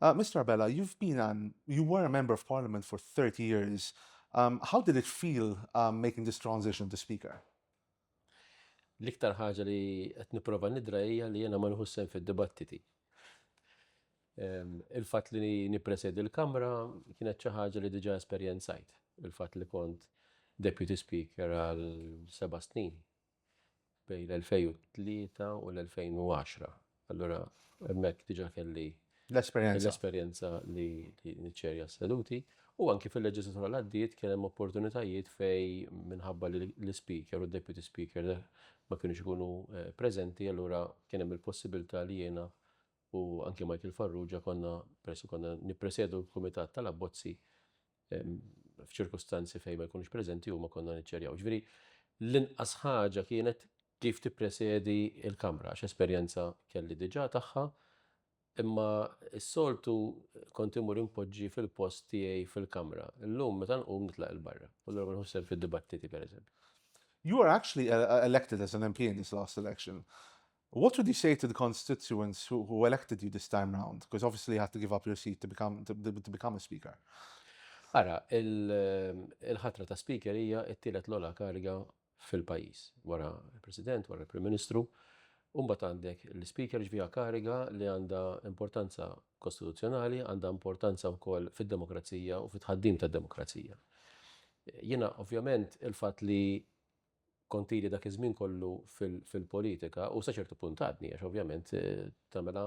Uh, Mr. Abela, you've been an, you were a member of parliament for 30 years. Um, how did it feel um, making this transition to speaker? L-iktar ħaġa li qed nipprova nidra hija li jiena ma nħussem fid-dibattiti. Il-fatt li nippresedi l-Kamra kienet xi ħaġa li diġà esperjenzajt. Il-fatt li kont Deputy Speaker għal seba' snin bejn l-2003 u l-2010. Allura hemmhekk diġà kelli l-esperjenza l-esperjenza li niċċerja s-seduti u anki fil-leġislatura l-għaddiet kien hemm opportunitajiet fej minħabba li l-speaker u d-deputy speaker ma kienux ikunu eh, preżenti allura kien hemm il-possibilità li jiena u anki Michael Farrugia konna persu konna nippresedu l-kumitat tal-abbozzi f'ċirkustanzi fejn ma jkunux preżenti huma konna niċċerjaw. Ġifieri l-inqas ħaġa kienet kif tippresedi l-kamra, għax esperjenza kelli diġà tagħha, imma s-soltu kont imur impoġġi fil-post tiegħi fil-kamra. Illum meta nqum nitlaq il-barra, u l nħossem fid-dibattiti pereżempju. You were actually elected as an MP in this last election. What would you say to the constituents who who elected you this time round? Because obviously you had to give up your seat to become to to become a speaker. Ara, il-ħatra ta' speaker hija t-tielet l-ola kariga fil-pajjiż wara l-President, wara l-Prim Ministru. Umbat għandek l-speaker ġvija kariga li għandha importanza kostituzzjonali, għandha importanza wkoll fid-demokrazija u fit-ħaddim tad-demokrazija. Jiena ovvjament il-fatt li Kont ili dak iż-żmien kollu fil-politika u sa ċertu punt għadni għax ovvjament tagħmilha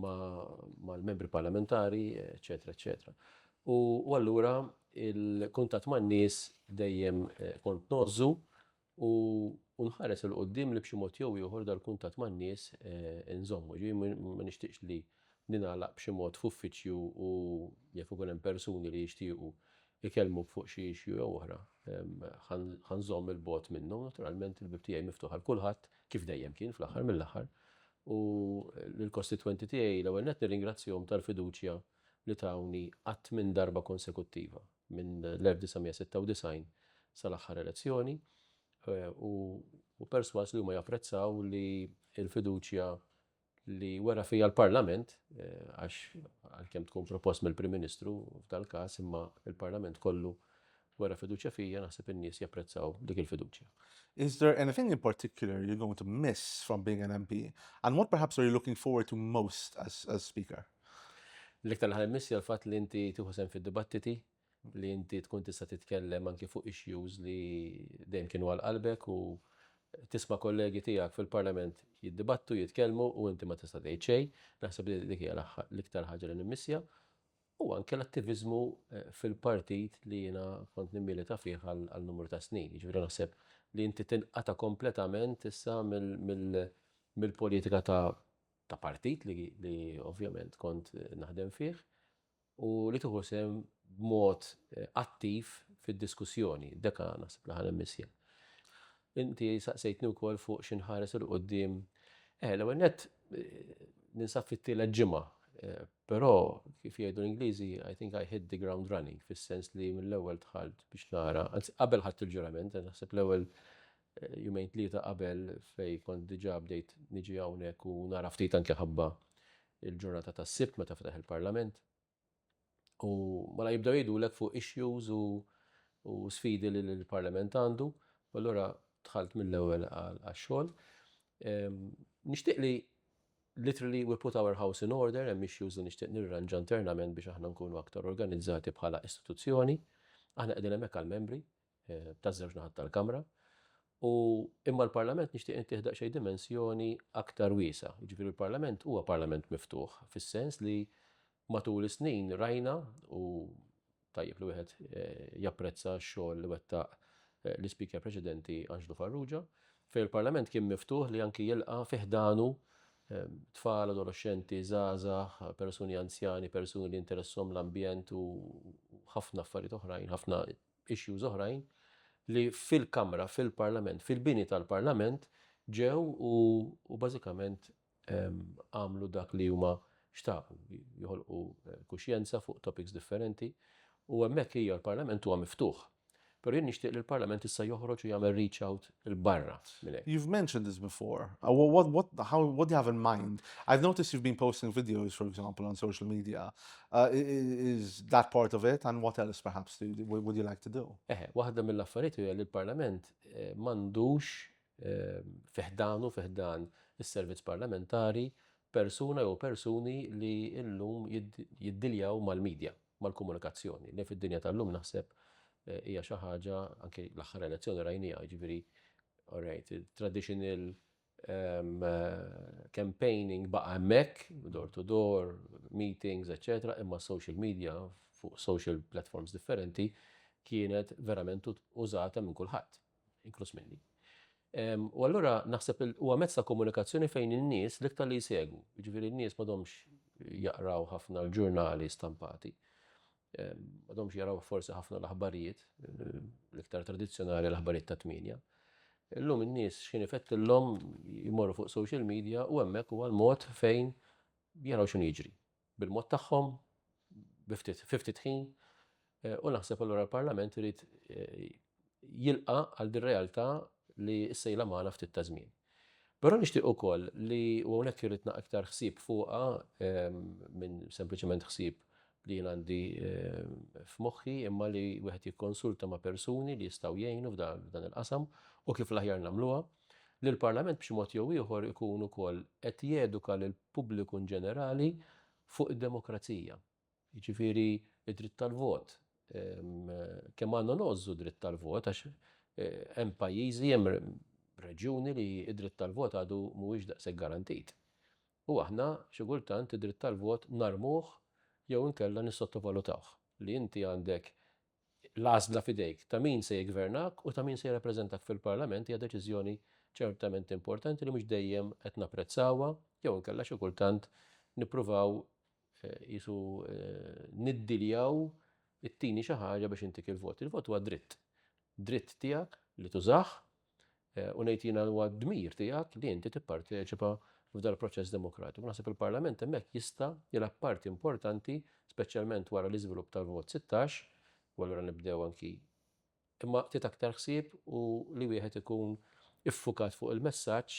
mal-membri parlamentari eċċetera eċċetera. U allura il-kuntatt man-nies dejjem kont ngħożżu u nħares 'il quddiem li b'xi mod jew ieħor dal-kuntatt man-nies inżommu. Jiġifieri ma nixtieqx li ningħalaq b'xi mod f'uffiċċju u jaf ikun hemm persuni li jixtiequ ikellmu fuq xi issue jew oħra, ħa nżomm 'il bogħod minnu, naturalment il-bieb tiegħi miftuħ għal kulħadd, kif dejjem kien fl-aħħar mill-aħħar, u lill-kostitwenti tiegħi l-ewwel nett nirringrazzjahom tal-fiduċja li tawni għadd minn darba konsekuttiva minn l-1996 sal-aħħar elezzjoni, u persważ li huma japprezzaw li l-fiduċja li wera fija l-Parlament, għax għalkemm tkun propost mill-Prim Ministru f'dal-każ imma l-Parlament kollu wera fiduċja fija naħseb in-nies japprezzaw dik il-fiduċja. Is there anything in particular you're going to miss from being an MP and what perhaps are you looking forward to most as Speaker? L-iktar li ħa nimmiss hija l-fatt li inti tieħu sehem fid-dibattiti, li inti tkun tista' titkellem anki fuq issues li dejjem kienu għal qalbek u tisma' kollegi tiegħek fil-Parlament jiddibattu, jitkellmu u inti ma tista' tgħid xejn. Naħseb li dik hija l-iktar ħaġa li nimmissja u anke l-attiviżmu fil-partit li jiena kont nimmilita fih għal numru ta' snin. Jiġifieri naħseb li inti tinqata' kompletament issa mill-politika ta' partit li ovvjament kont naħdem fih. u li tieħu sehem b'mod attiv fid-diskussjoni. Deka naħseb li ħa nimmissja. Inti saqsejtni wkoll fuq xi nħares 'il quddiem. Eh, l-ewwel nett ninsab fit-tielet ġimgħa, però kif jgħidu l-Ingliżi, I think I hit the ground running, fis-sens li mill-ewwel dħalt biex nara, anzi qabel ħadt il-ġurament, naħseb l-ewwel jumejn tlieta qabel fejn kont diġà bdejt niġi hawnhekk u nara ftit anke ħabba l-ġurnata tas-Sibt meta fetaħ il-Parlament. U mela jibdew jgħidulek fuq issues u u sfidi li l-Parlament għandu, u allura dħalt mill-ewwel għax-xogħol. Ehm, nixtieq li literally we put our house in order, hemm issues li nixtieq nirranġa internament biex aħna nkunu aktar organizzati bħala istituzzjoni. Aħna qegħdin hemmhekk għall-membri, taż-żewġ naħat tal-Kamra, u imma l-Parlament nixtieq intih daqsxejn dimensjoni aktar wiesgħa. Jiġifieri l-Parlament huwa Parlament miftuħ fis-sens li matul is-snin rajna u tajjeb li wieħed japprezza x-xogħol li wettaq l-Ispeaker preċedenti Anġlu Farrugia, fejn il-Parlament kien miftuħ li anki jilqa' fi ħdanu tfal, adoloxxenti, żgħażagħ, persuni anzjani, persuni li interesshom l-ambjent u ħafna affarijiet oħrajn, ħafna issues oħrajn li fil-Kamra, fil-Parlament, fil-bini tal-Parlament ġew u bażikament għamlu dak li huma xtaqu, joħolqu kuxjenza fuq topics differenti u hemmhekk hija l-Parlament huwa miftuħ. Però jien nixtieq li l-Parlament issa joħroġ u jagħmel reach out 'l barra minn hekk. You've mentioned this before. What what how what do you have in mind? I've noticed you've been posting videos for example on social media. Uh, is that part of it and what else perhaps do, would you like to do? Eh, waħda mill-affarijiet hija li l-Parlament eh, m'għandux eh, fiħdanu fiħdan is-servizz parlamentari persuna jew persuni li illum jiddiljaw mal-medja. mal-komunikazzjoni, li fid-dinja tal-lum naħseb hija xi ħaġa, anke l-aħħar elezzjoni rajniha, jiġifieri all right, traditional um, campaigning baqa' hemmhekk, door to door, meetings, etc. Imma social media fuq social platforms differenti kienet verament użata minn kulħadd. inkluż minni. U allura naħseb huwa mezz ta' komunikazzjoni fejn in-nies l-iktar li jsegwu, jiġifieri n-nies m'għadhomx jaqraw ħafna l-ġurnali stampati, m'għadhomx jaraw forsi ħafna l-aħbarijiet, l-iktar tradizzjonali l-aħbarijiet ta' tmienja. Illum in-nies x'kien ifettillhom jmorru fuq social media u hemmhekk huwa l-mod fejn jaraw x'inhu jiġri. bil-mod tagħhom, bi ftit, fi ftit ħin, eh, u naħseb allura l-Parlament irid eh, jilqa għal din realtà li s-sejla magħna ftit ta' żmien. Però nixtieq ukoll li u hawnhekk irid naq iktar ħsieb fuqha ehm, minn sempliċement ħsieb li jien għandi ehm, f'moħħi imma li wieħed jikkonsulta ma' persuni li jistgħu jgħinu f'dan il-qasam u kif l-aħjar nagħmluha. li l-Parlament b'xi mod jew ieħor ikun ukoll qed jeduka lill-pubbliku inġenerali fuq id-demokrazija. Jiġifieri d-dritt tal-vot. Kemm għandna ngħożżu d-dritt tal-vot għax hemm pajjiżi, hemm reġjuni li d-dritt tal-vot għadu mhuwiex daqshekk garantit. U aħna xi kultant id-dritt tal-vot narmuh jew inkella nissottovalutawh. Li inti għandek L-għażla f'idejk. Ta' min se jiggvernak u ta' min se jirrappreżentak fil-Parlament hija deċiżjoni ċertament importanti li mhux dejjem qed napprezzawha jew inkella xi kultant nippruvaw qisu niddiljaw ittini xi ħaġa biex intik il-vot. Il-vot huwa dritt. Dritt tiegħek li tużah u ngħid jiena li huwa d-dmir tiegħek li inti tipparteċipa f'dal-proċess demokratiku. Naħseb il-Parlament hemmhekk jista' jilgħab parti importanti, speċjalment wara l-iżvilupp tal-vot 16, u allura nibdew anki imma ftit aktar ħsieb u li wieħed ikun iffukat fuq il-messaġġ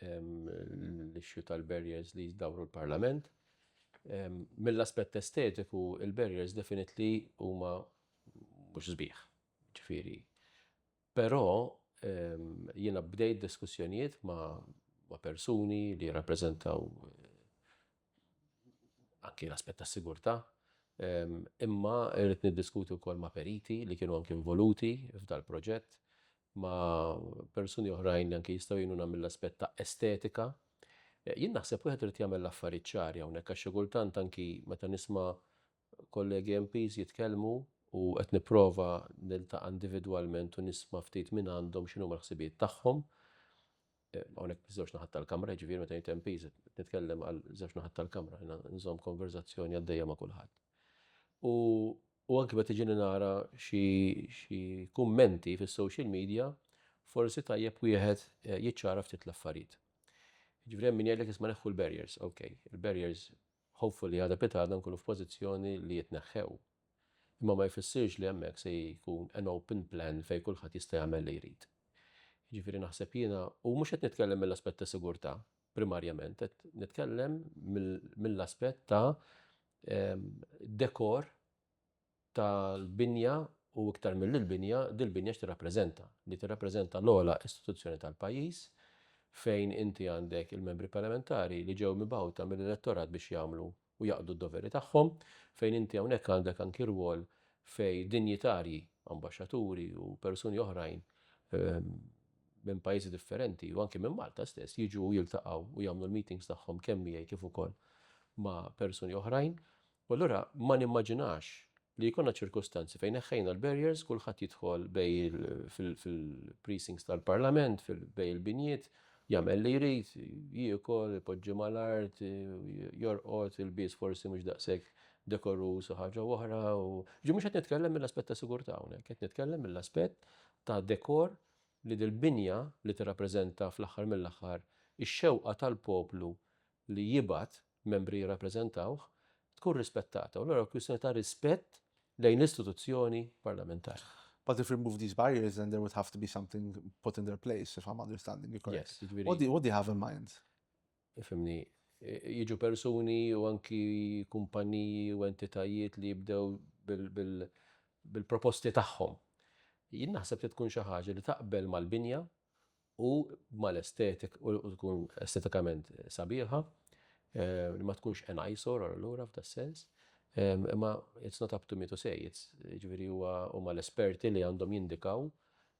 l-issue tal-barriers li jizdawru l-Parlament. Mill-aspett estetiku, il-barriers definitely huma mhux sbieħ, ġifieri. Però jiena bdejt diskussjonijiet ma' persuni li jirrappreżentaw anki l-aspett tas-sigurtà, imma rrid niddiskuti wkoll ma' periti li kienu anki involuti f'dal-proġett, ma' persuni oħrajn li anki jistgħu jgħinuna mill-aspett ta' estetika. Jien naħseb wieħed irid jagħmel l-affarijiet ċari hawnhekk għax xi kultant anki meta nisma' kollegi MPs jitkellmu u qed nipprova niltaqa' individwalment u nisma' ftit mingħandhom x'inhuma l-ħsibijiet tagħhom, hawnhekk biż-żewġ naħat tal-kamra, jiġifieri meta jgħid MP nitkellem għal żewġ naħat tal-kamra, jiena nżomm konverżazzjoni għaddejja ma' kulħadd. U u anke meta ġieni nara xi kummenti fis-social media, forsi tajjeb wieħed eh, jiċċara ftit l-affarijiet. Ġifieri hemm min jgħidlek isma' neħħu l-barriers, ok, il-barriers Ħofu li għada pitgħada nkunu f'pożizzjoni li jitneħħew. Imma ma jfissirx li hemmhekk se jkun an open plan fejn kulħadd jista' jagħmel li jrid. Jiġifieri naħseb jiena, u mhux qed nitkellem mill-aspett ta' sigurtà primarjament, qed nitkellem mill-aspett ta' dekor, tal-binja u iktar milli l-binja, dil-binja x'tirrappreżenta? Li tirrappreżenta l-ogħla istituzzjoni tal-pajjiż fejn inti għandek il-membri parlamentari li ġew mibgħuta mill-elettorat biex jagħmlu u jaqdu d-doveri tagħhom, fejn inti hawnhekk għandek anki rwol fejn dinjitarji, ambaxxaturi u persuni oħrajn minn pajjiżi differenti u anki minn Malta stess jiġu u jiltaqgħu u jagħmlu l-meetings tagħhom kemm miegħi kif ukoll ma' persuni oħrajn. U allura ma nimmaġinax li jkollna ċirkustanzi fejn neħħejna l-barriers, kulħadd jidħol bejn il fil-precincts tal-Parlament, bejn il-binjiet, jagħmel li jrid, jiekol, ipoġġi mal-art, jorqod, ilbies forsi mhux daqshekk dekoruż u ħaġa u oħra. Ġi mhux qed nitkellem mill-aspett ta' sigurtà hawnhekk, qed nitkellem mill-aspett ta' dekor li dil-binja li tirrappreżenta fl-aħħar mill-aħħar ix-xewqa tal-poplu li jibgħat membri jirrappreżentawh, tkun rispettata u allura kwistjoni ta' rispett lejn l-istituzzjoni parlamentari. But if remove these barriers then there would have to be something put in their place if I'm understanding you correct. Yes, what, do, what do you have in mind? Ifimni, jiġu persuni u anki kumpaniji u entitajiet li jibdew bil-proposti tagħhom. Jien naħseb li tkun xi ħaġa li taqbel mal-binja u mal-estetik u tkun estetikament sabiħa li ma tkunx an eyesore għal lura f'da sens imma it's not up to me to say it's ġifieri huwa huma l-esperti li għandhom jindikaw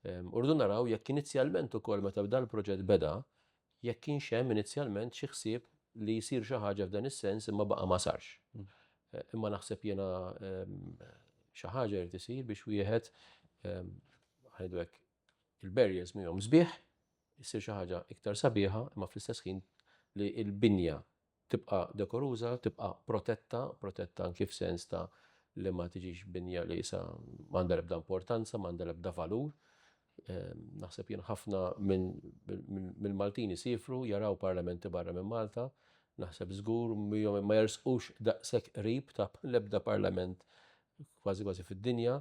u rridu naraw jekk inizjalment ukoll meta bda l-proġett beda jekk kienx hemm inizjalment xi ħsieb li jsir xi ħaġa f'dan is-sens imma baqa' ma sarx. Imma naħseb jiena xi ħaġa jrid isir biex wieħed ħa ngħidu hekk il-barriers miegħhom sbieħ, issir xi ħaġa iktar sabiħa imma fl-istess ħin li l-binja tibqa' dekoruża, tibqa' protetta, protetta anki f'sens ta' li ma tiġix binja li sa m'għandha l-ebda importanza, m'għandha l-ebda valur. Ehm, naħseb jien ħafna minn Maltin isifru, jaraw parlamenti barra minn Malta, naħseb żgur miegħu ma jersqux daqshekk qrib ta' l-ebda parlament kważi kważi fid-dinja,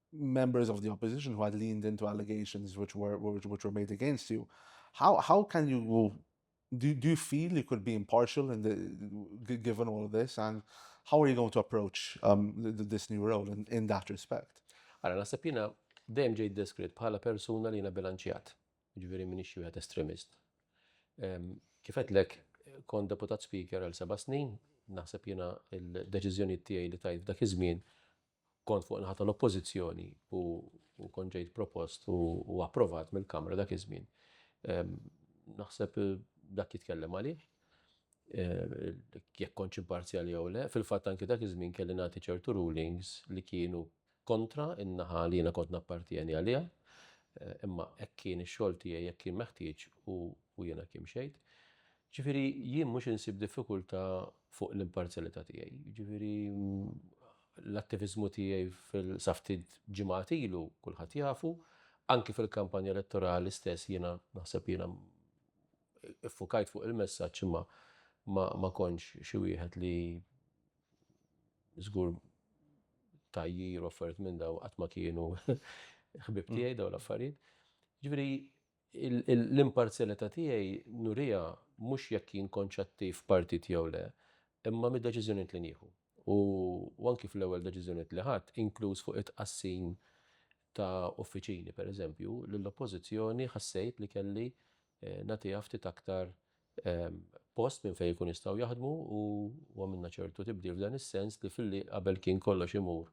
members of the opposition who had leaned into allegations which were which, which were made against you, how how can you do, do you feel you could be impartial in the, given all of this and how are you going to approach um, this new role in, in that respect? Għara, nasib jina dejjem ġejt deskritt bħala persuna li jina bilanċjat, ġveri minni xie għat estremist. Um, kifet lek, kon deputat speaker għal seba snin, naħseb jina il-deċizjoni tiegħi li tajt dak iż-żmien Kont fuq in-naħa tal-Oppożizzjoni u kont ġejt propost u approvat mill-Kamra dak iż-żmien. Naħseb dak jitkellem għalih, jekk kontx imparzjali jew le. Fil-fatt anki dak iż-żmien kelli nagħti ċertu rulings li kienu kontra n-naħa li jiena kont nappartjeni għaliha, imma hekk kien ix-xogħol tiegħi, hekk kien meħtieġ u jiena hekk imxejt. Jiġifieri jien mhux insib diffikultà fuq l-imparzjalità tiegħi. Jiġifieri l-attiviżmu tiegħi fil sa ftit ġimgħat ilu kulħadd jafu, anki fil-kampanja elettorali stess jiena naħseb jiena iffukajt fuq il-messaġġ imma ma, ma kontx xi wieħed li żgur tajjir offert minn daw qatt ma kienu ħbib tiegħi daw l-affarijiet. Ġifieri L-imparzjalità tiegħi nuriha mhux jekk jien kontx attiv f'partit jew le, imma mid-deċiżjonijiet li nieħu. U anki fl-ewwel deċiżjonijiet li ħadt, inkluż fuq it-tqassim ta' uffiċini, pereżempju, lill-Oppożizzjoni ħassejt li kelli nagħtiha ftit aktar post minn fejn ikun jistgħu jaħdmu u għamilna ċertu tibdil f'dan is-sens li filli qabel kien kollox imur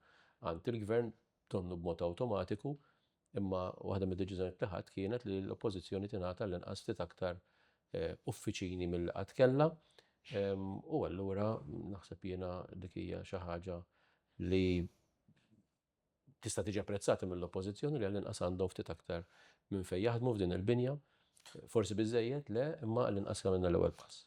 għand il-Gvern, donnu b'mod awtomatiku, Imma waħda mid-deċiżjonijiet li ħadt kienet li l-Oppożizzjoni tingħata l-inqas ftit aktar uffiċini milli qatt kellha u allura naħseb jiena dik hija xi ħaġa li tista' tiġi apprezzata mill-Oppożizzjoni li għall-inqas għandhom ftit aktar minn fejn jaħdmu f'din il-binja. Forsi biżżejjed? Le, imma għall-inqas għamilna l-ewwel pass.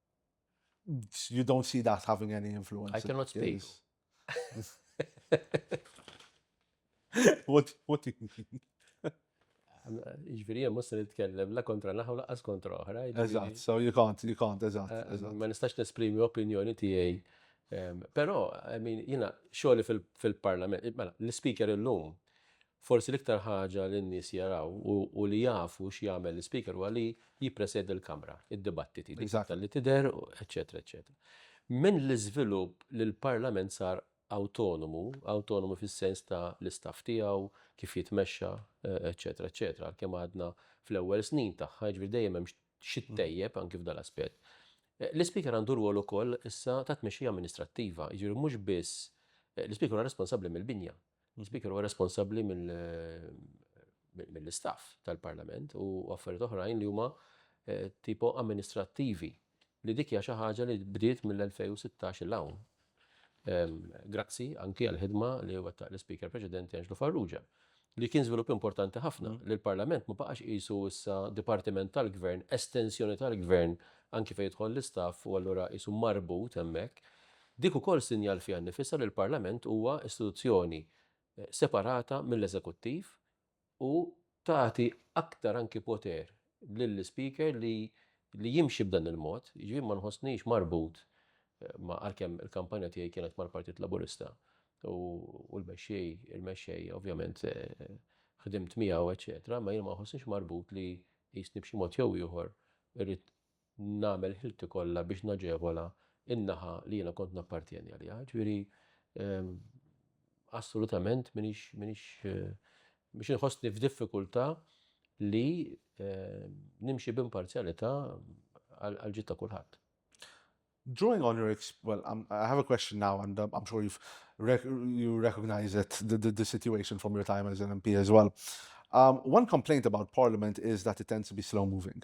You don't see that having any influence. I cannot speak. What, what do you mean? Iġviri, jem musta nitkellem la kontra naħu laqqas kontra oħra. Eżat, so you can't, you can't, eżat. Eh, eh, ma nistax nesprimi opinjoni tijaj. Pero, I mean, jina, xoli fil-parlament, mela, l-speaker il-lum, Forsi l-iktar ħaġa li n-nies jaraw u li jafu x'jagħmel l-Ispeaker huwa li jippresedi l-Kamra, id-dibattiti, dik iktar li tidher, eċċetera, eċċetera. Minn l-iżvilupp li l-Parlament sar awtonomu, awtonomu fis-sens ta' l-istaff tiegħu, kif jitmexxa, eċċetera, eċċetera, għalkemm għadna fl-ewwel snin tagħha, jiġifieri dejjem hemm xi ttejjeb anki f'dan l-aspett. L-Ispeaker għandu rwol ukoll issa ta' tmexxija amministrattiva, jiġifieri mhux biss, l-Ispeaker huwa responsabbli mill-binja. L-Ispeaker huwa responsabbli mill-istaff tal-Parlament u affarijiet oħrajn li huma tipo amministrattivi li dik hija xi ħaġa li bdiet mill-2016 'il hawn. Grazzi anki għall-ħidma li wettaq l-Ispeaker preċedenti Anġlu Farrugia li kien żvilupp importanti ħafna li l-Parlament ma baqax qisu issa dipartiment tal-Gvern, estensjoni tal-Gvern anki fejn jidħol l-istaff u allura qisu marbut hemmhekk. Dik ukoll sinjal fiha nnifisha li l-Parlament huwa istituzzjoni separata mill-Eżekuttiv u tagħti aktar anki poter lill-Ispeaker li li jimxi b'dan il-mod, jiġifieri ma nħossnix marbut ma' għalkemm il-kampanja tiegħi kienet mal-Partit Laburista u l-mexxej il-mexxej ovvjament ħdimt miegħu eċċetera imma jiena ma nħossnix marbut li qisni b'xi mod jew ieħor irrid nagħmel ħilti kollha biex naġevola n-naħa li jiena kont nappartjeni għaliha. Ġifieri assolutament minix minix biex inħossni f'diffikultà li nimxi b'imparzjalità għal ġid ta' kulħadd. Drawing on your well, I'm, I have a question now, and um, I'm sure you've rec you recognize it, the, the, the, situation from your time as an MP as well. Um, one complaint about Parliament is that it tends to be slow moving.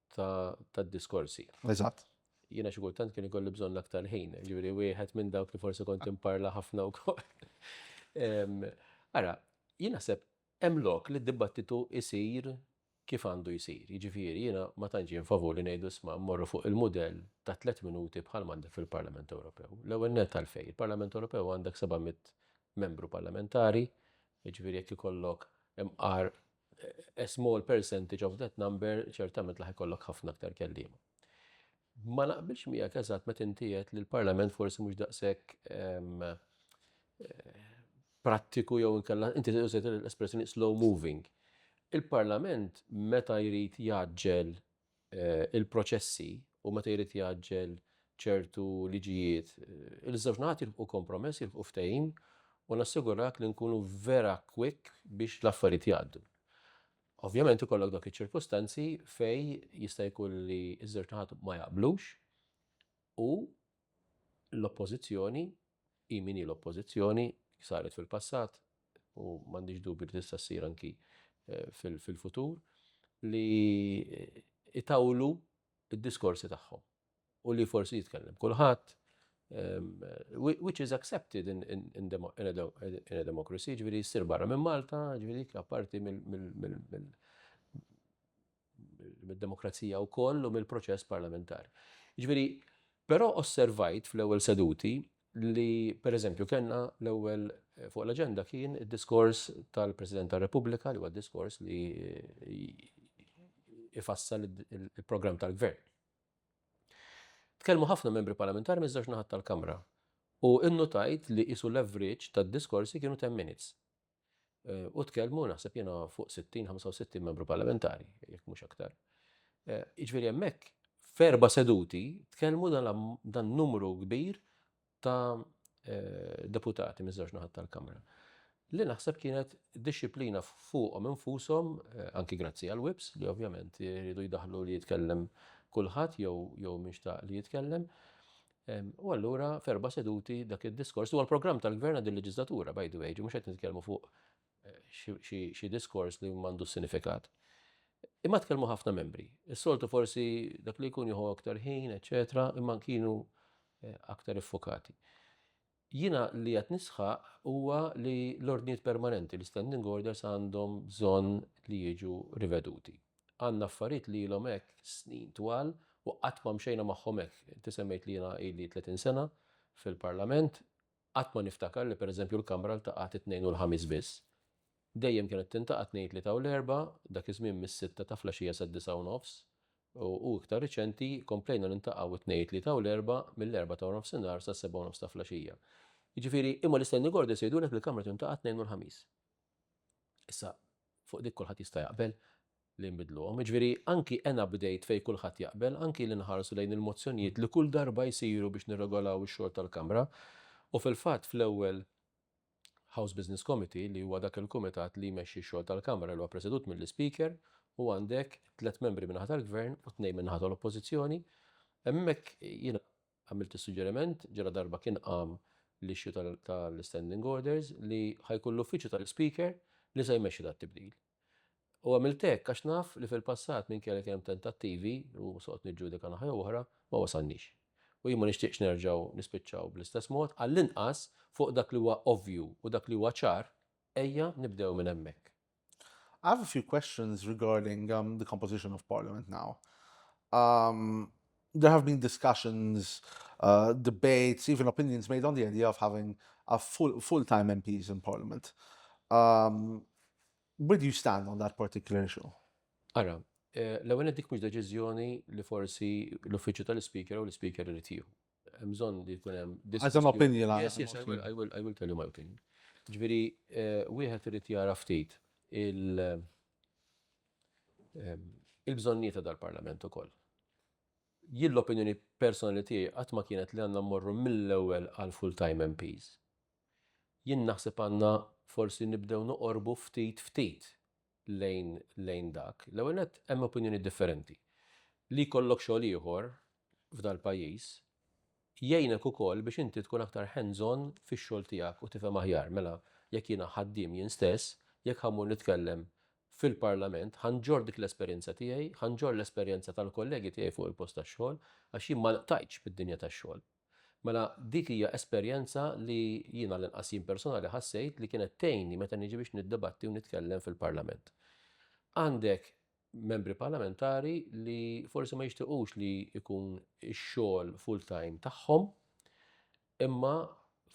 tad-diskorsi. Eżatt. Jiena xi kultant kien ikolli bżonn l-aktar ħin, ġifieri wieħed minn dawk li forsi kont imparla ħafna wkoll. Ara, jien naħseb hemm lok li d-dibattitu jsir kif għandu jsir. Jiġifieri jiena ma tantx jien favur li ngħidu isma' mmorru fuq il-mudell ta' tliet minuti bħal m'għandek fil-Parlament Ewropew. L-ewwel nett għalfejn? Il-Parlament Ewropew għandek 700 membru parlamentari, jiġifieri jekk ikollok imqar a small percentage of that number, ċertament l-aħħar jkollok ħafna aktar kelliema. Ma naqbilx miegħek eżatt meta inti qed li l-Parlament forsi mhux daqshekk ehm, eh, prattiku jew inkella inti użajt l-espressjoni slow moving. Il-Parlament meta jrid jaġġel il-proċessi u meta jrid jgħaġġel ċertu liġijiet, iż-żewġ naħat jilħqu kompromess, jilħqu ftehim u nassigurak li nkunu vera quick biex l-affarijiet jgħaddu. Ovvjament ikollok dawk iċ-ċirkustanzi fejn jista' jkun li ż-żewġ naħat ma jaqblux u L-Oppożizzjoni, hi min hi l-Oppożizzjoni, saret fil-passat u m'għandix dubju li tista' ssir anki fil-futur, li jtawlu d-diskorsi tagħhom u li forsi jitkellem kulħadd, which is accepted in a democracy, jiġifieri ssir barra minn Malta, jiġifieri dik apparti mill mid-demokrazija wkoll u mill-proċess parlamentari. Jiġifieri, però osservajt fl-ewwel seduti li pereżempju kellna l-ewwel eh, fuq l-aġenda kien id-diskors tal-President tar-Repubblika li huwa diskors li eh, ifassal il-programm tal-gvern. Tkellmu ħafna membri parlamentari minn żewġ naħat tal-Kamra u innutajt li isu l-average tad-diskorsi kienu 10 minutes. u tkellmu naħseb jiena fuq 60, 65 membru parlamentari, jekk mhux aktar. Jiġifieri hemmhekk ferba seduti tkellmu dan numru kbir ta' deputati miż-żewġ naħat tal-Kamra. Li naħseb kienet disciplina fuqhom infushom, anki grazzi għal WIPS li ovvjament jridu jdaħlu li jitkellem kulħadd jew jew mhix ta' li jitkellem. U allura f'erba' seduti dak id-diskors huwa l-programm tal-Gvern għad il-leġislatura, by the way, ġi mhux qed nitkellmu fuq eh, xi diskors li m'għandu sinifikat. Imma tkellmu ħafna membri. Is-soltu forsi dak li jkun jieħu aktar ħin, eċetera, imma kienu eh, aktar iffokati. Jiena li qed nisħaq huwa li l-ordnijiet permanenti, l-standing orders għandhom bżonn li jiġu riveduti. Għandna affarijiet li ilhom hekk snin twal u qatt ma mxejna magħhom hekk. Inti semmejt li jiena ili tletin sena fil-Parlament, qatt ma niftakar li pereżempju l-Kamra ltaqgħet it-Tnejn u l-Ħamis biss. Dejjem kienet tintaqa' t-Tnejn, Tlieta u l-Erbgħa, dak iż-żmien mis-sitta ta' flaxija sad-disgħa u nofs, u iktar riċenti komplejna niltaqgħu t-Tnejn, it-Tlieta u l-Erbgħa mill-erbgħa ta' waranofsinhar sas-sebgħa u nofs ta' flgħaxija. Jiġifieri, imma l-Standing Orders jgħidulek li l-Kamra tintaqa' t-Tnejn u l-Ħamis. Issa, fuq dik kulħadd jista' jaqbel li nbiddluhom. Jiġifieri, anki en update fejn kulħadd jaqbel, anki li nħarsu lejn il-mozzjonijiet li kull darba jsiru biex nirregolaw ix-xogħol tal-Kamra, u fil-fatt fl-ewwel House Business Committee li huwa dak il-kumitat li jmexxi x-xogħol tal-Kamra li huwa presedut mill-Ispeaker u għandek tliet membri min-naħa tal-Gvern u tnejn min-naħa tal-Oppożizzjoni. Hemmhekk jiena għamilt is-suġġeriment, ġala darba kien qam l-issue tal-Standing Orders, li ħa jkun l-Uffiċċju tal-Ispeaker li se jmexxi dat-tibdil. U għamilt hekk għax naf li fil-passat minkejja li kien hemm tentattivi, u se noqgħod niġġudika naħa jew oħra, ma wasalniex. U jien ma nixtieqx nerġgħu nispiċċaw bl-istess mod, għall-inqas fuq dak li huwa ovvju u dak li huwa ċar, ejja nibdew minn hemmhekk. I have a few questions regarding the composition of Parliament now. There have been discussions, uh, debates, even opinions made on the idea of having a full, full-time MPs in Parliament. Um, where do you stand on that particular issue? Ara, eh, l-ewwel dik mhux deċiżjoni li forsi l-uffiċċju tal-Speaker u l-Speaker irid jieħu. Hemm bżonn li jkun hemm As an opinion, yes, yes, I will, I will, I will tell you my opinion. Ġifieri eh, wieħed irid jara ftit il- il-bżonnijiet ta' dal-Parlament ukoll. Jien l-opinjoni personali tiegħi qatt ma kienet li għandna mmorru mill-ewwel għal full-time MPs. Jien naħseb għandna forsi nibdew noqorbu ftit ftit lejn lejn dak. L-ewwel nett hemm opinjonijiet differenti. Li jkollok xogħol ieħor f'dal-pajjiż Jgħinek ukoll biex inti tkun aktar hands on fix-xogħol tiegħek u tifhem aħjar. Mela, jekk jiena ħaddiem jien stess, jekk ħa mmur nitkellem fil-Parlament, ħa nġorr dik l-esperjenza tiegħi, ħa nġorr l-esperjenza tal-kollegi tiegħi fuq il-post tax-xogħol, għax jien ma lqtajtx bid-dinja tax-xogħol. Mela, dik hija esperjenza li jien għall-inqas jien personali ħassejt li kienet tgħinni meta niġi biex niddebatti u nitkellem fil-Parlament. Għandek membri parlamentari li forsi ma jixtiqux li jkun ix-xogħol full-time tagħhom, imma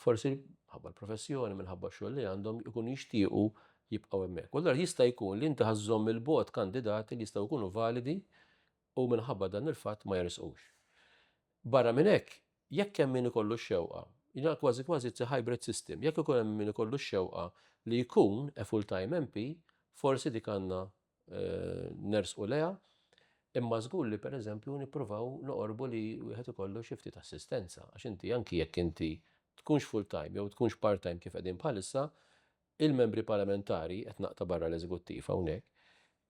forsi ħabba l-professjoni minħabba xogħol li għandhom ikun jixtiequ jibqgħu hemmhekk. U l jista' jkun li inti ħażżomm il-bot kandidati li jistgħu jkunu validi u minħabba dan il-fatt ma jersqux. Barra minn hekk, jekk hemm min ikollu x-xewqa, jina kważi kważi it's hybrid system, jekk ikun hemm min ikollu x-xewqa li jkun a full-time MP, forsi dik għandna nersqu lejha, imma żgur li pereżempju nippruvaw noqorbu li wieħed ikollu xi ftit assistenza għax inti anki jekk inti tkunx full-time jew tkunx part-time kif qegħdin bħalissa, il-membri parlamentari, qed naqta' barra l-eżekuttiv hawnhekk,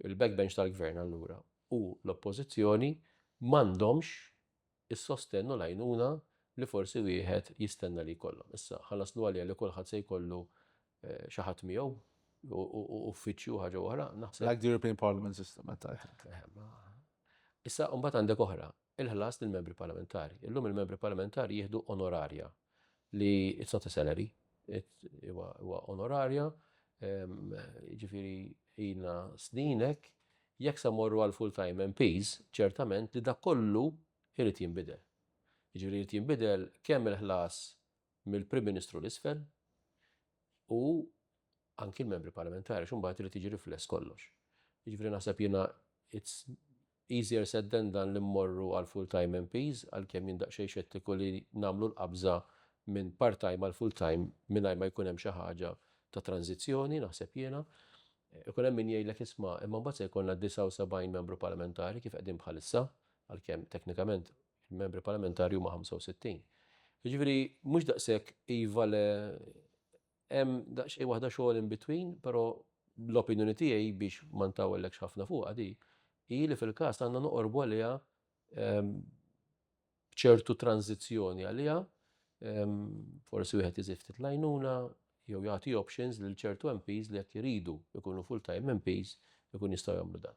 il-backbench tal-gvern allura u l-oppożizzjoni m'għandhomx is-sostenn u l-għajnuna li forsi wieħed jistenna li jkollhom. Issa, ħa naslu għaliha li kulħadd se jkollu xi ħadd miegħu u uffiċċju u ħaġa oħra, naħseb. Like the European Parliament system, I think. Issa, imbagħad għandek oħra, il-ħlas lill-Membri Parlamentari. Illum il-Membri Parlamentari jieħdu onorarja li it's not a salary, huwa onorarja, jiġifieri ilna snin hekk, jekk se mmorru għal full-time MPs, ċertament li dak kollu jrid jinbidel. Jiġifieri jrid jinbidel kemm il-ħlas mill-Prim Ministru 'l isfel u anki l-Membri Parlamentari għax imbagħad irid jiġi rifless kollox. Jiġifieri naħseb jiena it's Easier said than done li mmorru għal full-time MPs, għalkemm jien daqsxejn xettiku li nagħmlu l-qabża minn part-time għal full-time mingħajr ma jkun hemm xi ħaġa ta' tranżizzjoni, naħseb jiena. Ikun hemm min jgħidlek isma', imma mbagħad se jkollna 79 membru parlamentari kif qegħdin bħalissa, għalkemm teknikament il-membri parlamentari huma 65. Jiġifieri mhux daqshekk iva le Hemm daqsxejn waħda xogħol in between, però l-opinjoni tiegħi biex ma ntawellekx ħafna fuqha di, hi li fil-każ għandna noqorbu għaliha b'ċertu tranżizzjoni għaliha, forsi wieħed iżid ftit l-għajnuna jew jagħti options lil ċertu MPs li jekk iridu jkunu full-time MPs ikun jistgħu jagħmlu dan.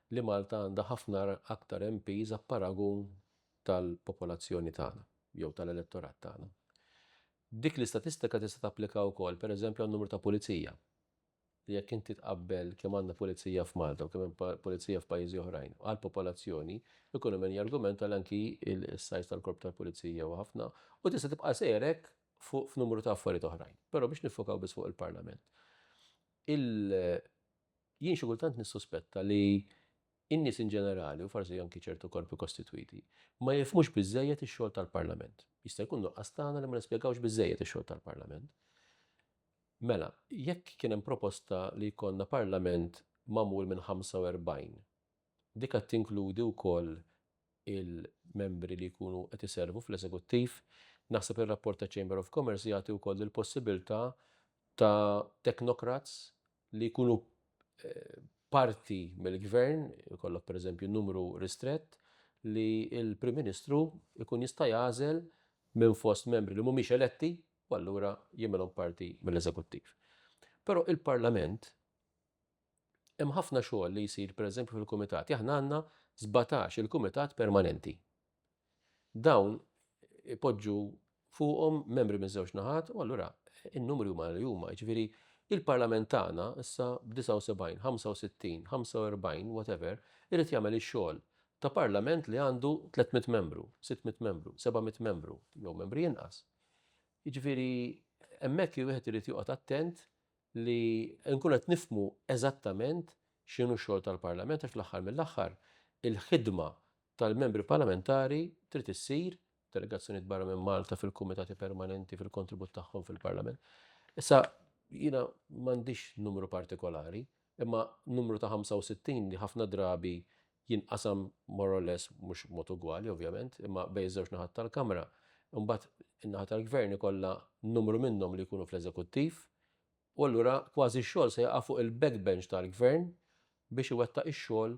li Malta għandha ħafna aktar MPs b'paragun tal-popolazzjoni tagħna jew tal-elettorat tagħna. Dik l-istatistika tista' tapplika wkoll, pereżempju, għan-numru ta' pulizija, li jekk inti tqabbel kemm għandna pulizija f'Malta u kemm hemm pulizija f'pajjiżi oħrajn għall-popolazzjoni, ikun hemm min jargumenta li anki s-size tal-korp tal-pulizija huwa ħafna u tista' tibqa' sejjer hekk fuq f'numru ta' affarijiet oħrajn. Però biex niffokaw biss fuq il-Parlament. Il. Jien xi kultant nissuspetta li n-nies in ġenerali, u forsi anki ċertu korpi kostitwiti, ma jifhmux biżżejjed ix-xogħol tal-Parlament. Jista' jkun nuqqas tagħna li ma nispjegawx biżżejjed ix-xogħol tal-Parlament. Mela, jekk kien hemm proposta li jkollna Parlament magħmul minn 45, dik għad tinkludi wkoll il-membri li jkunu qed iservu fl-eżekuttiv? Naħseb ir-rapport taċ-Chamber of Commerce jagħti wkoll il-possibilità ta' technocrats li jkunu parti mill-Gvern, ikollok pereżempju numru ristrett, li l-Prim Ministru jkun jista' jagħżel minn fost membri li mhumiex eletti u allura jagħmilhom parti mill-Eżekuttiv. Però il-Parlament hemm ħafna xogħol li jsir pereżempju fil-kumitati. Aħna għandna sbatax il-kumitat permanenti. Dawn ipoġġu fuqhom membri miż-żewġ naħat u allura n-numri huma li huma. Jiġifieri il-Parlament tagħna issa b'79, 65, 45, whatever, irid jagħmel ix-xogħol ta' Parlament li għandu 300 membru, 600 membru, 700 membru, jew membri inqas. Jiġifieri hemmhekk wieħed irid joqgħod attent li nkun qed nifhmu eżattament x'inhu x-xogħol tal-Parlament għax fl-aħħar mill-aħħar il-ħidma tal-Membri Parlamentari trid issir, delegazzjonijiet barra minn Malta fil-Kumitati Permanenti fil-kontribut tagħhom fil-Parlament. Issa jiena m'għandix numru partikolari, imma numru ta' 65 li ħafna drabi jinqasam more or less mhux mod ugwali ovvjament, imma bejn żewġ naħat tal-Kamra, imbagħad in-naħa tal-Gvern ikollha numru minnhom li jkunu fl-Eżekuttiv, u allura kważi x-xogħol se jaqa' fuq il-backbench tal-Gvern biex iwettaq ix-xogħol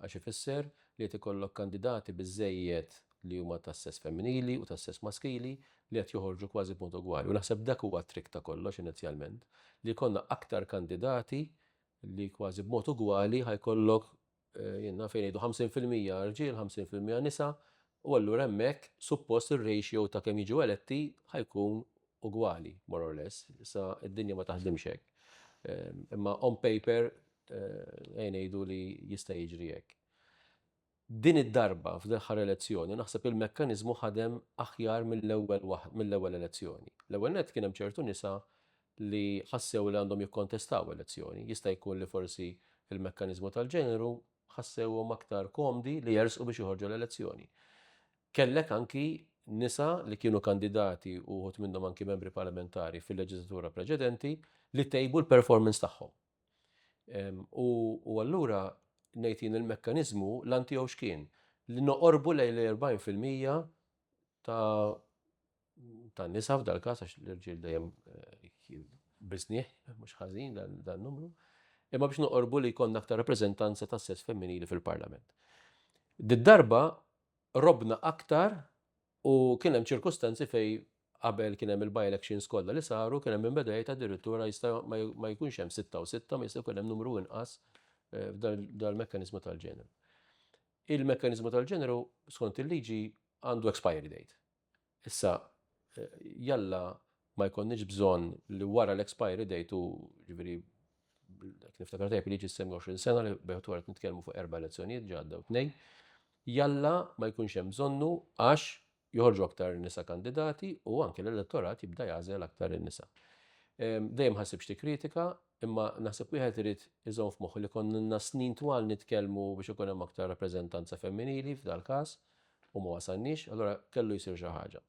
għax ifisser li qed ikollok kandidati biżżejjed li huma tas-sess femminili u tas-sess maskili li qed joħorġu kważi b'mod ugwali u naħseb dak huwa t-trick ta' kollox inizjalment li jkollna aktar kandidati li kważi b'mod ugwali ħa jkollok jiena fejn ngħidu 50 fil-mija rġiel, 50 fil-mija nisa, u allura hemmhekk suppost ir-ratio ta' kemm jiġu eletti ħa jkun ugwali more or less. Issa d-dinja ma taħdimx hekk. Imma on paper ejja ngħidu li jista' jiġri hekk. Din id-darba f'dl-aħħar elezzjoni naħseb il-mekkaniżmu ħadem aħjar mill-ewwel waħ mill-ewwel elezzjoni. L-ewwel nett kien hemm ċertu nisa li ħassew li għandhom jikkontestaw elezzjoni. Jista' jkun li forsi il-mekkaniżmu tal-ġeneru ħassewhom aktar komdi li jersqu biex joħorġu l-elezzjoni. Kellek anki nisa li kienu kandidati u uħud minnhom anki membri parlamentari fil-leġiżlatura preċedenti li tejbu l-performance tagħhom. U allura nejtin il-mekkaniżmu l-antijow x'kien li noqorbu lejn l-40% ta' tan-nisa f'dal-każ għax l-irġiel dejjem biżnih, mhux ħażin dan numru, imma biex noqorbu li jkollna aktar rappreżentanza tas-sess femminili fil-Parlament. Did-darba robna aktar u kien hemm ċirkustanzi fej qabel kien hemm il-by-elections kollha li saru kien hemm inbeda jgħid addirittura jista' ma jkunx hemm sitta u sitta, ma jista' jkun hemm numru inqas eh, dal-mekkaniżmu tal-ġeneru. Il-mekkaniżmu tal-ġeneru skont il-liġi għandu expiry date. Issa, jalla ma jkollniex bżonn li wara l-expiry date u ġifieri jekk niftakar tajjeb liġi s-semmi 20 sena li bejħet wara nitkellmu fuq erba' elezzjonijiet ġadda u tnejn, jalla ma jkunx hemm bżonnu għax joħorġu aktar nisa kandidati u anke l-elettorat jibda jagħżel aktar in-nisa. Dejjem ħassib xi tikkritika, imma naħseb wieħed irid iżomm f'moħħu li konna ilna snin twal nitkellmu biex ikun hemm aktar rappreżentanza femminili f'dal-każ u ma wasalniex, allura kellu jsir xi ħaġa.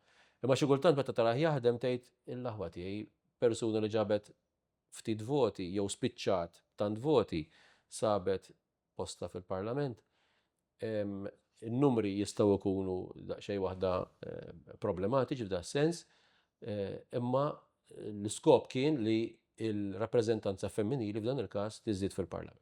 Imma xi kultant meta tarah jaħdem tgħid, il-aħwa tiegħi, persuna li ġabet ftit voti jew spiċċat b'tant voti sabet postha fil-Parlament. In-numri jistgħu jkunu daqsxejn waħda problematiċi f'dan is-sens, imma l-iskop kien li l-rappreżentanza femminili f'dan il-każ tiżdied fil-Parlament.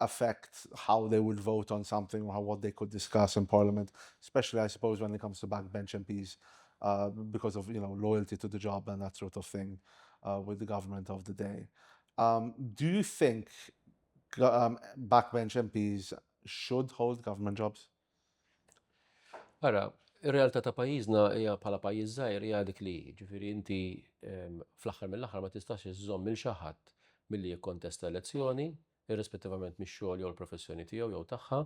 affect how they would vote on something or what they could discuss in parliament, especially I suppose when it comes to back bench MPs uh, because of you know loyalty to the job and that sort of thing uh, with the government of the day. Um, do you think um, backbench MPs should hold government jobs? Ara, ir-realtà ta' pajjiżna hija bħala pajjiż żgħir hija dik li ġifieri inti fl-aħħar mill-aħħar ma tistax iżżomm minn xi ħadd milli jikkontesta elezzjoni irrispettivament mix-xogħol jew il-professjoni tiegħu jew tagħha,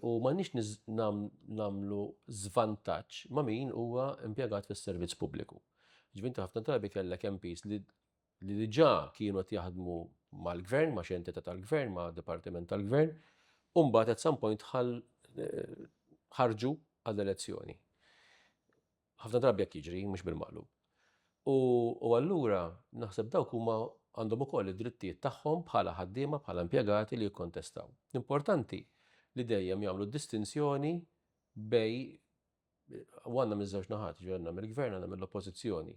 u m'għandniex nagħmlu żvantaġġ ma' min huwa impjegat fis-servizz pubbliku. Ġvinti ħafna drabi kellek MPs li li diġà kienu qed jaħdmu mal-gvern, ma' xi entità tal-gvern, ma' dipartiment tal-gvern, u mbagħad at some point ħarġu għall-elezzjoni. Ħafna drabi hekk jiġri, mhux bil-maqlub. U, u allura, naħseb dawk huma għandhom ukoll id-drittijiet tagħhom bħala ħaddiema, bħala impjegati li jikkontestaw. L-importanti li dejjem jagħmlu distinzjoni bej u għandna miż-żewġ naħat, ġi għandna mill-gvern għandna mill-oppożizzjoni.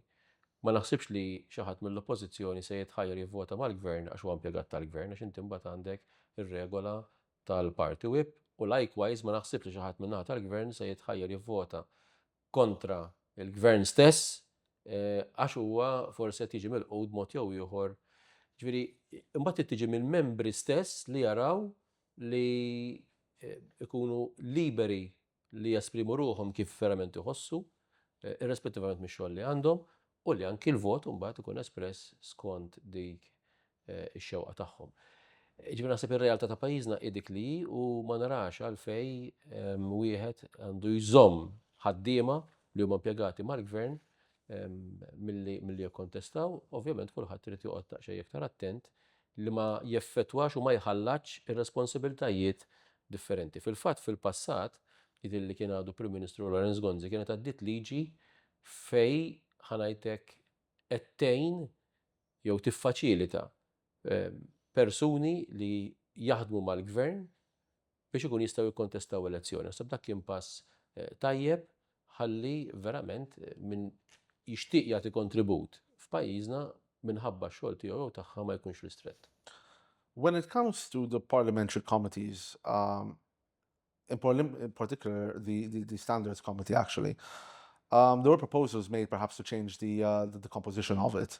Ma naħsibx li xi ħadd mill-oppożizzjoni se jitħajjar jivvota mal-gvern għax huwa impjegat tal-gvern għax inti mbagħad għandek ir-regola tal-Party Whip u likewise ma naħsibx li xi ħadd min-naħa tal-Gvern se jitħajjar jivvota kontra l-Gvern stess għax huwa forsi qed jiġi milqut b'mod jew ieħor. Ġifieri imbagħad trid tiġi mill-membri stess li jaraw li jkunu liberi li jesprimu ruħhom kif verament iħossu, irrespettivament mix-xogħol li għandhom, u li anki l-vot imbagħad ikun espress skont dik ix-xewqa tagħhom. Jiġifieri naħseb ir-realtà ta' pajjiżna hi dik li hi u ma narax għalfejn wieħed għandu jżomm ħaddiema li huma impjegati mal-Gvern milli jikkontestaw, ovvjament kulħadd irid joqgħod daqsxejn iktar attent li ma jeffettwax u ma jħallatx ir-responsibbiltajiet differenti. Fil-fatt, fil-passat, jidhirli li kien għadu Prim Ministru Lawrence Gonzi kienet għaddiet liġi fejn, ħa ngħid hekk, qed tgħin jew tiffaċilita persuni li jaħdmu mal-Gvern biex ikun jistgħu jikkontestaw elezzjoni. Naħseb dak kien pass tajjeb ħalli verament min jixtieq jagħti kontribut f'pajjiżna minħabba x-xogħol tiegħu jew tagħha ma jkunx ristrett. When it comes to the parliamentary committees, um, in, in particular the, the, the standards committee actually, um, there were proposals made perhaps to change the, uh, the, the composition of it.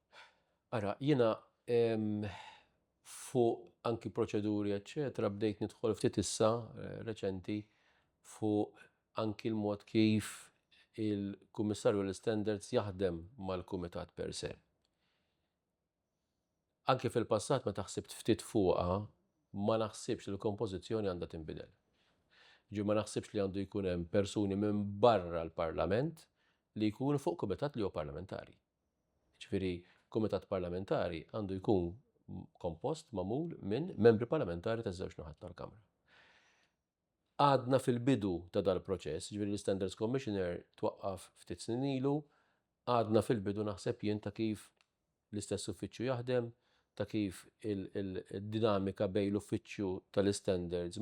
Ara, jiena fuq anki proċeduri eċċetera bdejt nidħol ftit issa reċenti fuq anki l-mod kif il-Kummissarju għall-Istandards jaħdem mal-Kumitat per se. Anki fil-passat meta ħsibt ftit fuqha ma naħsibx li l-kompożizzjoni għandha tinbidel. Jiġifieri ma naħsibx li għandu jkun hemm persuni minn barra l-Parlament li jkunu fuq Kumitat li huwa Parlamentari. Jiġifieri, kumitat parlamentari għandu jkun kompost, magħmul, minn membri parlamentari taż-żewġ naħat tal-Kamra. Għadna fil-bidu ta' dal-proċess, jiġifieri l-Standards Commissioner twaqqaf ftit snin ilu, għadna fil-bidu naħseb jien ta' kif l-istess uffiċċju jaħdem, ta' kif id-dinamika bejn l-uffiċċju tal-istandards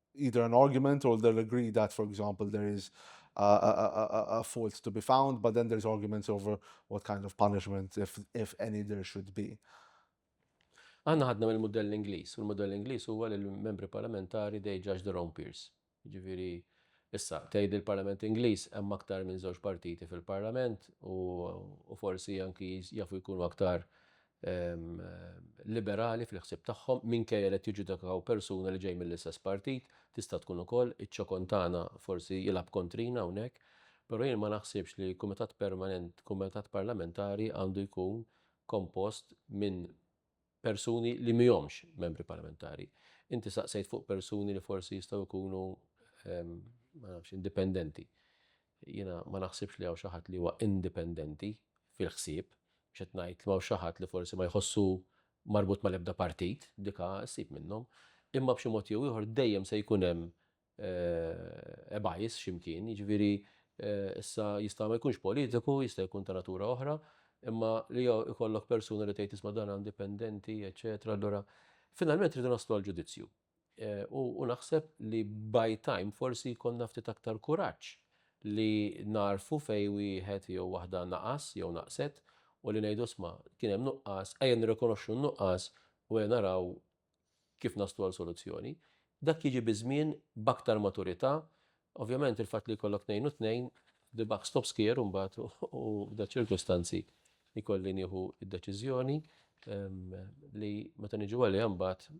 either an argument or they'll agree that, for example, there is a, a, a, fault to be found, but then there's arguments over what kind of punishment, if, if any, there should be. Għanna ħadna mill modell Ingliż, u l-modell Ingliż huwa li l-membri parlamentari they judge their own peers. Ġifieri issa tgħid il-Parlament Ingliż hemm aktar minn żewġ partiti fil-Parlament u forsi anki jafu jkunu aktar liberali fil-ħsieb tagħhom minkejja li qed jiġġudikaw persuna li ġej mill-istess partit, tista' tkun ukoll iċ-ċokon tagħna forsi jilgħab kontrina hawnhekk, però jien ma naħsibx li kumitat permanenti, kumitat parlamentari għandu jkun kompost minn persuni li mhihomx membri parlamentari. Inti saqsejt fuq persuni li forsi jistgħu jkunu ma nafx indipendenti. Jiena ma naħsibx li hawn xi ħadd li huwa indipendenti fil-ħsieb. Mhux qed ngħid li m'hawnx xi ħadd li forsi ma jħossu marbut mal-ebda partit, dik issib minnhom. Imma b'xi mod jew ieħor dejjem se jkun hemm a bias xi mkien, jiġifieri issa jista' ma jkunx politiku, jista' jkun ta' natura oħra, imma li jkollok persuna li tgħid isma' dan indipendenti, eċċetera, allura finalment irridu naslu għall-ġudizzju. U naħseb li by time forsi jkollna ftit aktar kuraġġ li nagħrfu fejn wieħed jew waħda naqas jew naqset u li ngħidu isma' kien hemm nuqqas, ejja nirrikonoxxu n-nuqqas u ejja naraw kif naslu għal soluzzjoni. Dak jiġi biż-żmien b'aktar maturità. Ovvjament il-fatt li jkollok tnejn u tnejn, the buck stops here imbagħad u f'da ċirkustanzi jkolli nieħu d-deċiżjoni li meta niġu għaliha mbagħad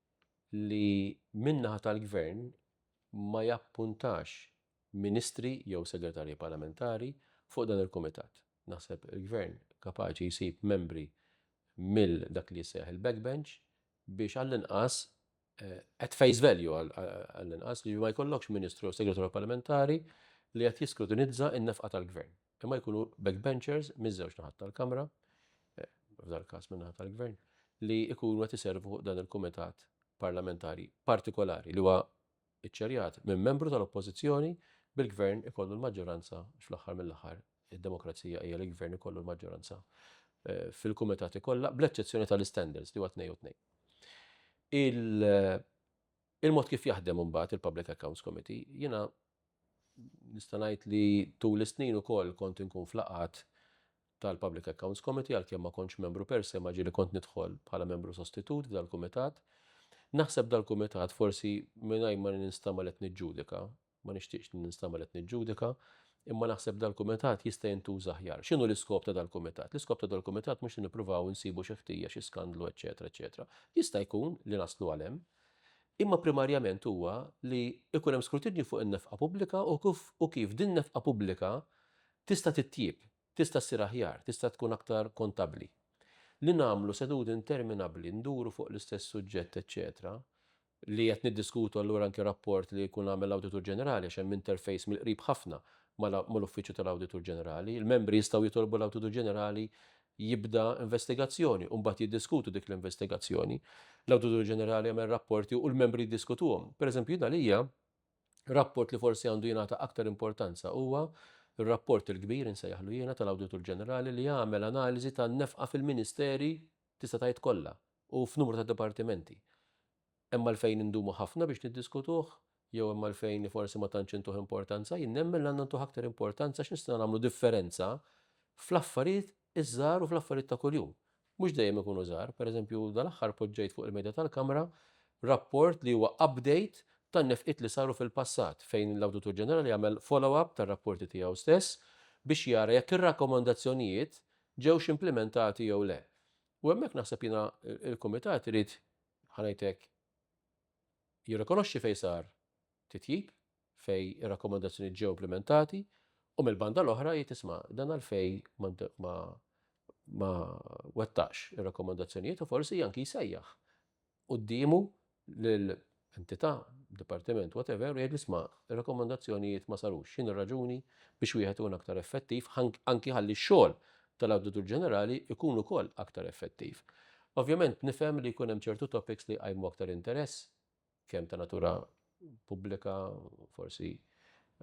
li min-naħa tal-Gvern ma jappuntax Ministri jew Segretarji Parlamentari fuq dan il-Kumitat. Naħseb il-Gvern kapaċi jsib membri mill dak li jissejjaħ il-backbench biex għall-inqas, at face value għall-inqas, li ma jkollokx Ministru jew Segretarju Parlamentari li qed jiskrutinizza n-nefqa tal-Gvern. Imma jkunu backbenchers miż-żewġ naħat tal-Kamra, eh, f'dal każ minn naħat tal-Gvern, li jkunu qed iservu dan il-Kumitat Parlamentari partikolari li huwa iċċerjat minn membru tal-Oppożizzjoni bil-Gvern ikollu l-maġġoranza fl-aħħar mill-aħħar id-demokrazija hija li l-Gvern ikollu l-maġġoranza eh, fil-kumitati kollha bl-eċċezzjoni tal-standards li huwa tnej u tnej. Eh, il-mod kif jaħdem mbagħad il-Public Accounts Committee jiena Nista' ngħid li tul is-snin ukoll kont inkun f'laqgħat tal-Public Accounts Committee għalkemm ma kontx membru per se ma ġieli kont nidħol bħala membru sostitut f'dal-kumitat. Naħseb dal-kumitat forsi mingħajr ma ninstagħmel qed niġġudika, ma nixtieqx li ninstagħmel qed niġġudika, imma naħseb dal-kumitat jista' jintuża aħjar. X'inhu l-iskop ta' dal-kumitat? L-iskop ta' dal-kumitat mhux li nippruvaw insibu xi ħtija, xi skandlu eċċetera eċċetera. Jista' jkun li naslu għal hemm, imma primarjament huwa li jkun hemm skrutinju fuq in-nefqa pubblika u kif din nefqa pubblika tista' titjieb, tista' ssir aħjar, tista' tkun aktar kontabbli. Li nagħmlu seduti interminabbli nduru fuq l-istess suġġett eċċetera, li qed niddiskutu allura anki rapport li jkun għamel l-Awditur Ġenerali għax hemm interface mill-qrib ħafna mal-Uffiċċju tal-Awditur Ġenerali, il-membri jistgħu jitolbu l-Awditur Ġenerali jibda investigazzjoni u mbagħad jiddiskutu dik l-investigazzjoni. L-Awditur Ġenerali jagħmel rapporti u l-membri jiddiskutuhom. Pereżempju, jien għalija rapport li forsi għandu jingħata aktar importanza huwa r-rapport il-kbir insejjaħlu jiena tal-Awditur Ġenerali li jagħmel analiżi tan-nefqa fil-ministeri tista' tgħid kollha u f'numru ta' dipartimenti. Hemm għalfejn indumu ħafna biex niddiskutuh? Jew hemm għalfejn li forsi ma tantx intuh importanza? Jien nemmen li għandna ntuh aktar importanza għax nistgħu nagħmlu differenza fl-affarijiet iż-żgħar u fl-affarijiet ta' kuljum. Mhux dejjem ikunu żgħar. Per eżempju, dal-aħħar poġġejt fuq il-medja tal-Kamra rapport li huwa update tan-nefqiet li saru fil-passat, fejn l-Awditur Ġenerali għamel follow-up tar-rapporti tiegħu stess biex jara jekk ir-rakkomandazzjonijiet ġewx implimentati jew le. U hemmhekk naħseb jiena l-Kumitat irid ħa ngħid hekk, jirrikonoxxi fejn sar titjib, fejn ir-rakkomandazzjonijiet ġew implimentati, u mill-banda l-oħra jgħid isma' dan għalfejn ma ma wettaqx ir-rakkomandazzjonijiet u forsi anki jsejjaħ quddiemu lil entità, dipartiment, whatever, u jgħid isma' ir-rakkomandazzjonijiet ma sarux, x'in ir-raġuni biex wieħed ikun aktar effettiv anki ħalli x-xogħol tal-Awditur Ġenerali jkun ukoll aktar effettiv. Ovvjament nifhem li jkun hemm ċertu topics li jqajmu aktar interess, kemm ta' natura pubblika, forsi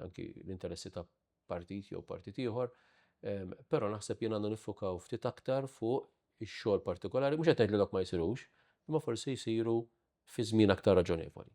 anki l-interessi ta' partit jew partit ieħor, però naħseb jien għandna niffukaw ftit aktar fuq ix-xogħol partikolari, mhux qed ngħid li dawk ma jsirux, imma forsi jsiru fi żmien aktar raġonevoli.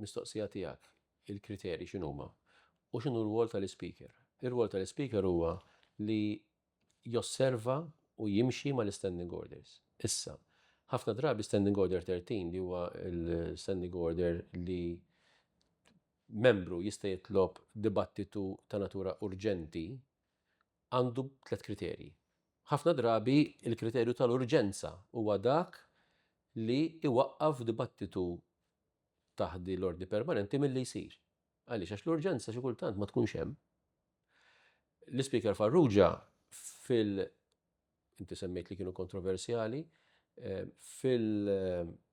Mistoqsija tiegħek, il-kriterji x'inhuma? U x'inhu r-rwol tal-Ispeaker? Ir-rwol tal-Ispeaker huwa li josserva u jimxi mal-Istanding Orders. Issa, ħafna drabi Standing Order 13 li huwa l-Standing Order li membru jista' jitlob dibattitu ta' natura urġenti għandu tliet kriterji. Ħafna drabi l-kriterju tal-urġenza huwa dak li iwaqqaf dibattitu taħt din l-ordni permanenti milli jsir. Għaliex? Għax l-urġenza xi kultant ma tkunx hemm. L-Ispeaker Farrugia fil inti semmejt li kienu kontroversjali, eh, fil-rulings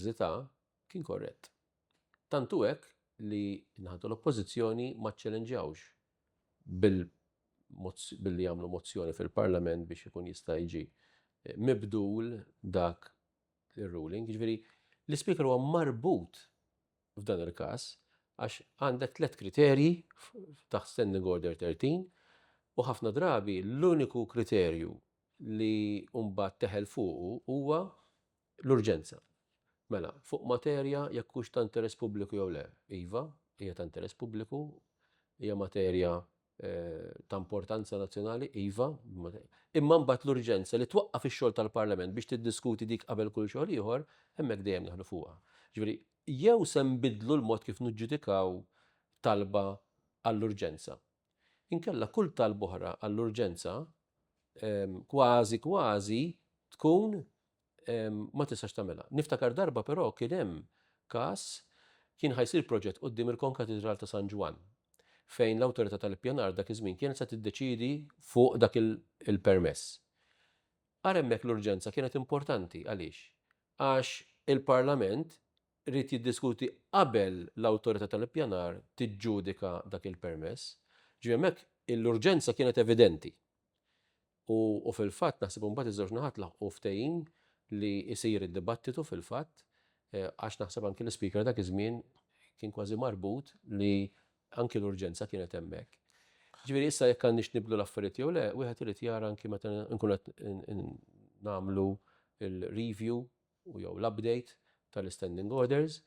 li ta' kien korrett. Tantu hekk li naħatu l-oppożizzjoni ma ċċelenġawx bil billi jagħmlu mozzjoni fil-Parlament biex ikun jista' jiġi eh, mibdul dak ir-ruling, jiġifieri l-ispeaker huwa marbut f'dan il-każ għax għandek tliet kriterji taħt Standing Order 13 u ħafna drabi l-uniku kriterju li mbagħad teħel fuqu huwa l-urġenza. Mela, fuq materja jekk hux ta' interess pubbliku jew le, iva, hija ta' interess pubbliku, hija materja ta' importanza nazzjonali, iva, imma mbagħad l-urġenza li twaqqaf ix-xogħol tal-Parlament biex tiddiskuti dik qabel kull xogħol ieħor, hemmhekk dejjem neħlu fuqha. Ġifieri, jew se nbiddlu l-mod kif niġġudikaw talba għall-urġenza. Inkella kull talba oħra għall-urġenza kważi kważi tkun ma tistax tagħmilha. Niftakar darba però kien hemm każ kien ħa jsir proġett quddiem il-Konkatidral ta' San Ġwann fejn l-Awtorità tal-Ippjanar dak iż-żmien kienet se tiddeċiedi fuq dak il-permess. Ara hemmhekk l-urġenza kienet importanti għaliex? Għax il-Parlament ried jiddiskuti qabel l-Awtorità tal-Ippjanar tiġġudika dak il-permess. Ġifieri hemmhekk l-urġenza kienet evidenti. U fil-fatt naħseb imbagħad iż-żewġ naħat laħqu ftehim li jsir id-dibattitu fil-fatt għax naħseb anki l-Ispeaker dak iż-żmien kien kważi marbut li anki l-urġenza kienet hemmhekk. Ġifieri issa jekk għandniex nibdlu l-affarijiet jew le, wieħed irid jara anki meta nkun qed nagħmlu l-review u jew l-update tal-standing orders,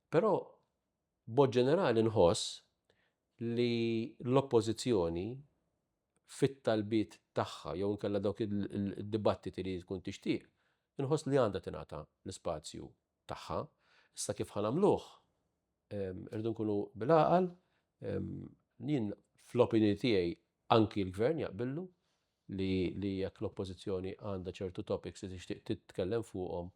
però b'mod ġenerali nħoss li l-Oppożizzjoni fit-talbiet tagħha jew inkella dawk id-dibattiti li hi tkun tixtieq, inħoss li għandha tingħata l-ispazju tagħha. Issa kif ħa nagħmluh? Irridu nkunu bil-għaqal, jien fl-opinjoni tiegħi anki l-Gvern jaqbillu li jekk l-Oppożizzjoni għandha ċertu topics li tixtieq titkellem fuqhom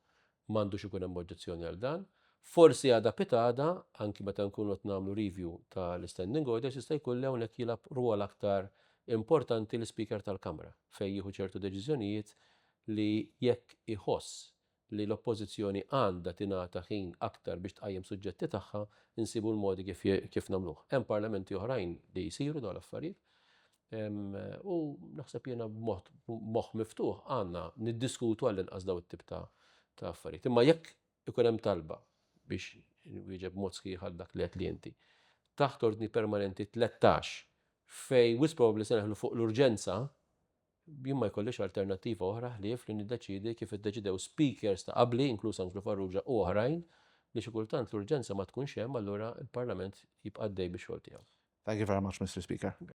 Ma għandux ikun hemm oġġezzjoni għal dan. Forsi għada pitgħada, anki meta nkunu qed nagħmlu review ta' l-Standing Orders, jista' jkun li hawnhekk jilgħab rwol aktar importanti l-Ispeaker tal-Kamra fejn jieħu ċertu deċiżjonijiet li jekk iħoss li l-Oppożizzjoni għandha tingħata ħin aktar biex tqajjem suġġetti tagħha, insibu l-modi kif nagħmluh. Hemm Parlamenti oħrajn li jsiru dawn l-affarijiet. U naħseb jiena b'mod moħħ miftuħ għandna niddiskutu għall-inqas daw it-tip ta' affarijiet. Imma jekk ikun hemm talba biex nwieġeb mod sħiħ għal dak li qed li inti. Taħt ordni permanenti 13 fejn wisq probabbli se neħlu fuq l-urġenza, jien ma jkollix alternattiva oħra ħlief li niddeċidi kif iddeċidew speakers ta' qabli, inkluż Anġlu Farrugia u oħrajn, li xi kultant l-urġenza ma tkunx hemm allura l-Parlament jibqa' għaddej bix-xogħol tiegħu. Thank you very much, Mr. Speaker.